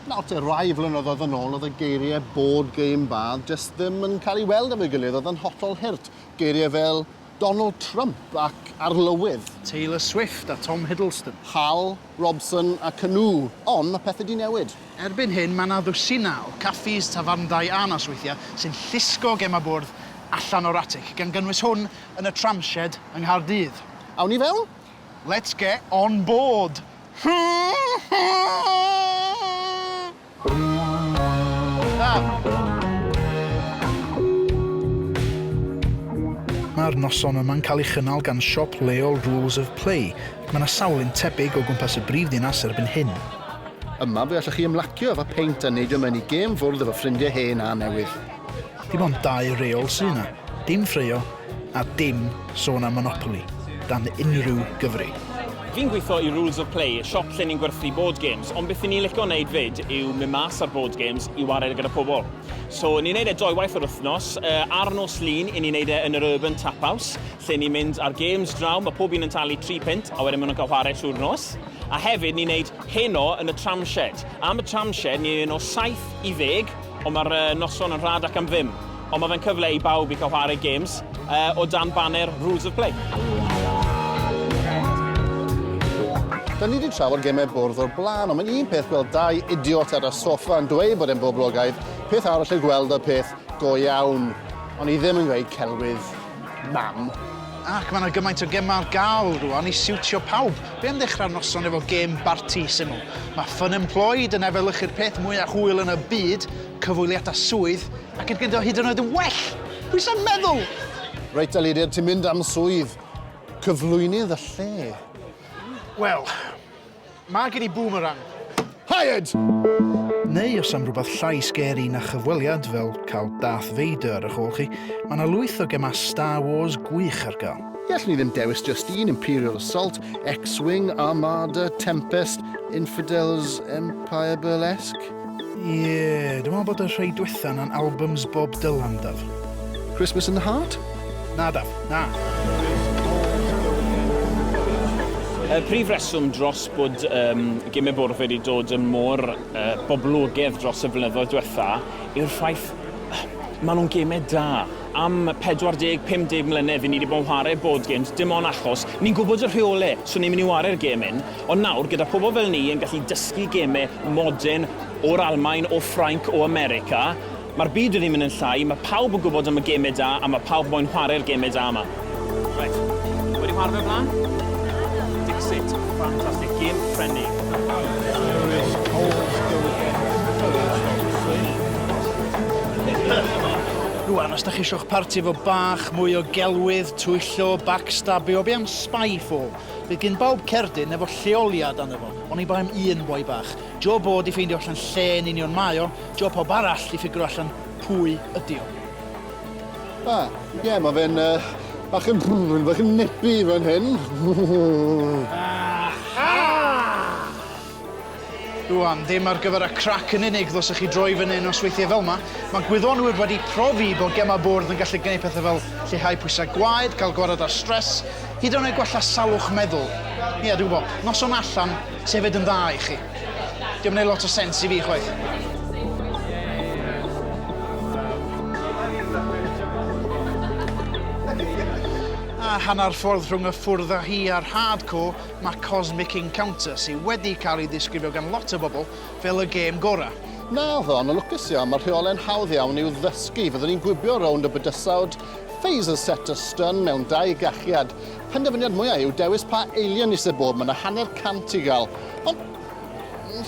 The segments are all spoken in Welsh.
Nawr te, rai flynyddoedd yn ôl oedd y geiriau board game bad jyst ddim yn cael ei weld efo'i gilydd, oedd yn hollol hurt. Geiriau fel Donald Trump ac Arlywydd. Taylor Swift a Tom Hiddleston. Hal, Robson a Canu. Ond mae pethau 'di newid. Erbyn hyn mae 'na ddwsinau o caffis, tafarndai a nosweithiau sy'n llusgo gemau bwrdd allan o'r atig, gan gynnwys hwn yn y tramshed yng Nghaerdydd. Awn i fewn? Let's get on board! Mae'r noson yma'n cael ei chynnal gan siop leol Rules of Play. Mae yna sawl un tebyg o gwmpas y brif ddinas erbyn hyn. Yma fe allwch chi ymlacio efo peint a neidio mewn i gêm fwrdd efo ffrindiau hen a newydd. Dim ond dau reol sy' yna. Dim ffraeo a dim sôn am Monopoly dan unrhyw gyfri. Fi'n gwitho i Rules of Play, siop lle ni'n gwerthu board games, ond beth i ni'n lico neud fyd yw mynd mas ar board games i wared gyda pobl. So ni'n neud e doi waith yr wthnos, ar nos Lun i ni'n neud e yn yr Urban Tap House, lle ni'n mynd ar games draw, ma pob un yn talu tri punt a wedyn ma nhw'n cael whare trwy'r nos. A hefyd ni'n neud heno yn y Tramshed. Am y Tramshed ni'n un o 70 Ond mae'r noson yn rhad ac am ddim. Ond mae fe'n cyfle i bawb i cael chwarae games uh, o dan banner Rules of Play. Da ni wedi trafod gemau bwrdd o'r blaen, ond mae'n un peth gweld dau idiot ar y soffa yn dweud bod e'n boblogaidd, peth arall yn gweld y peth go iawn, ond i ddim yn gweud celwydd. Mam. Ac mae yna gymaint o gemau ar gael rwan i siwtio pawb. Be am ddechrau'r noson efo gêm barti syml? Mae Fun Employed yn efelychu'r peth mwyaf hwyl yn y byd, cyfweliadau swydd, ac yn gyda hyd yn oed yn well! Pwy sa'n meddwl? Reit, Elirian, ti'n mynd am swydd cyflwynydd y lle. Wel, Mae gen i boomerang. Hired! Neu os am rhywbeth llai sgeri na chyfweliad, fel cael Darth Vader ar eich ôl chi, mae 'na lwyth o gemau Star Wars gwych ar gael. Ie, allwn i ddim dewis just un, Imperial Assault, X-Wing, Armada, Tempest, Infidels, Empire Burlesque? Ie, dwi'n meddwl bod y rhai dwetha 'na'n albums Bob Dylan, Daf. Christmas in the Heart? Na, Daf, na. Y prif reswm dros bod um, gym y bwrdd wedi dod yn mor uh, boblogedd dros y flynyddoedd diwetha yw'r ffaith maen nhw'n gemau da. Am 40-50 mlynedd i ni wedi bod yn chwarae board games, dim ond achos ni'n gwybod y rheolau, so ni'n mynd i wario'r gêm hyn. Ond nawr, gyda phobl fel ni yn gallu dysgu gemau modern o'r Almaen, o Ffrainc, o America, mae'r byd wedi mynd yn llai, mae pawb yn gwybod am y gemau da a mae pawb moyn chwarae'r gemau da yma. Reit. Chi wedi chwarae fe o'r blaen? Naddo. Dixit. Fantastic. Gem Ffrenig. Lewis Coles go again first on three. Rwan, os da chi isio eich parti efo bach mwy o gelwydd, twyllo, backstabio, be am spy fob? Bydd gin bawb cerdyn efo lleoliad arno fo, oni bai am un boi bach. Job o 'di ffeindio allan lle yn union mae o, job pawb arall 'di ffigro allan pwy ydi o. A, ie, mae fe'n yy bach yn bach yn nippy fan hyn. Aha! Rwan, ddim ar gyfer y crac yn unig ddylsech chi droi fyny yn nosweithiau fel yma. Mae gwyddonwyr wedi profi bod gemau bwrdd yn gallu gwneud pethau fel lleihau pwysau gwaed, cael gwared ar stress, hyd yn oed gwella salwch meddwl. Ie, dwi'n gwybod, noson allan sydd hefyd yn dda i chi. Diolch yn ei lot o sens i fi chwaith. hanner ffordd rhwng y ffwrdd â hi a'r hardcore, Mae Cosmic Encounter, sydd wedi cael ei ddisgrifio gan lot o bobl fel y gêm gorau. Naddo, ond yn lwcus iawn, mae'r rheolau'n hawdd iawn i'w ddysgu. Fyddwn ni'n gwibio rownd y bydysawd, phaser set a stun mewn dau gachiad. Penderfyniad mwyaf yw dewis pa alien isie bob, mae 'na hanner cant i gael. Ond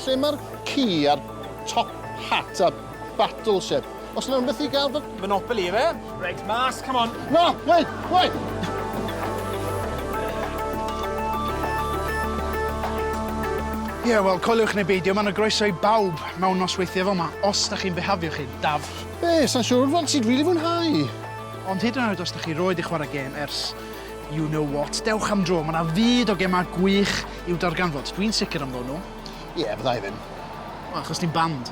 lle mae'r ci a'r top hat a Battleship. Os yna rhywbeth i gael fy... Monopoly, efe? Reit, mas, come on. Na, wait, wait! Ie, yeah, wel, coeliwch neu beidio, mae yna groeso i bawb mewn nosweithiau fel yma, os da chi'n bihafio chi, Daf. Be, sa'n siŵr fel ti'n rili fwynhau. Ond hyd yn oed os da chi roed i chwarae gêm ers you know what, dewch am dro, mae yna fyd o gemau gwych i'w darganfod. Dwi'n sicr am ddod nhw. Ie, yeah, fydda i ddim. Wel, achos ti'n band.